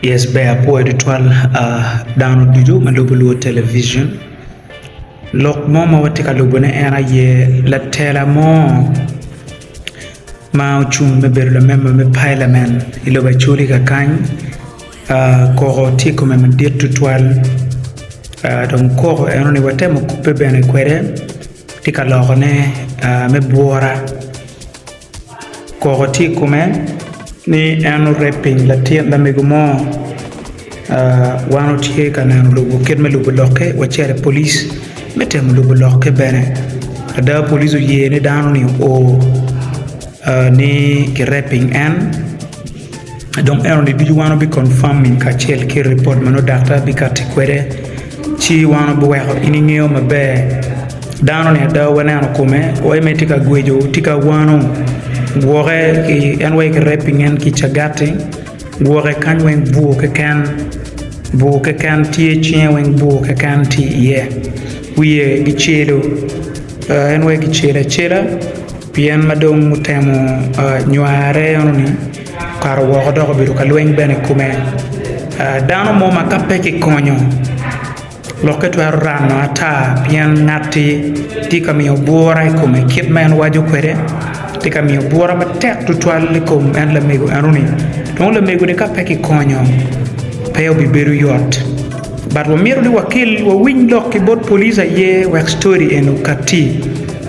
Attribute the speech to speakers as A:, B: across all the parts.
A: Yes ber apwoyo tutwal dano ducu ma lubo lwot television lok mo ma watye ka lubone en aye latela mo ma ocung me bedo lamemba me pailamen i lobo Acholi kakany koko tye i kome madit tutwal dong koko enoni watemo kubbe bene kwede tye ka lokone me bwura. Koko tye i kome ni en oreping latin lamego mo wan watye ka neno lobo kit me lubo lokke wacito i polic me temo lubo lokke bene ada polic oye ni dano ni oo ni kireping en. Dong enoni ducu wan wabi confirming kacel ki report ma nongo daktar bikati kwede, ci wan wabiweko in ingeyo maber. Dano ni ada waneno kome wai mere tye ka gweco tye ka wano gwoke ki en wai ki raping en ki cagati gwoke kany weng bur keken bur keken tye cinge weng bur keken tye iye wiye gicelo en wai gicelo acela. Pien ma dong otemo nyware enoni, okato woko dok obedo ka lweny bene i kome. Dano mo ma ka pe kikonyo lokke twero rano ata pien ngatti tye ka miyo bwura i kome kit ma en waco kwede tye ka miyo bwura matek tutwal i kom en lamego enoni. Dong lamego-ni ka pe kikonyo pe obibedo yot bat wamyero ni wakel wawiny lok ki bot police aye wek ctori eni okatti.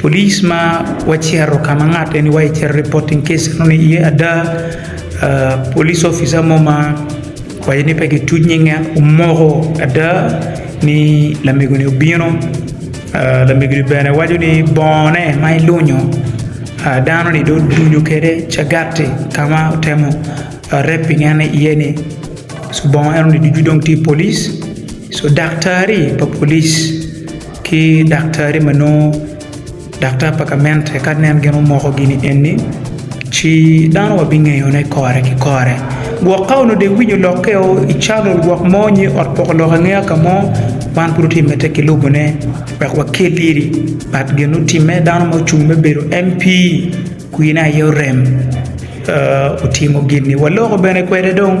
A: Police ma wacito ka ma ngat eni wa cito reporting case enoni iye ada, police officer mo ma waco ni pe ki tuc nyinge omoko ada ni lamego ni obino, lamego ni bene waco ni bongo ne ma ilunyo dano ni dong odunyo kwede cagati ka ma otemo raping en ni iye ni bongo enoni ducu dong tye i police, so daktari pa police. Ki daktari ma nongo daktar pa gamente ka nen gin omoko gini eni, ci dano wa bingeyone kore ki kore. Gwok ka onongo deng winyo lokke o i channel gwok mo nyo i ot poko lok angeya ka mo, wan pud watye mete ki lubone wek wakel iri but gin otimme dano ma ocung me bedo MP kwine aye orem otimo gini waloko bene kwede dong.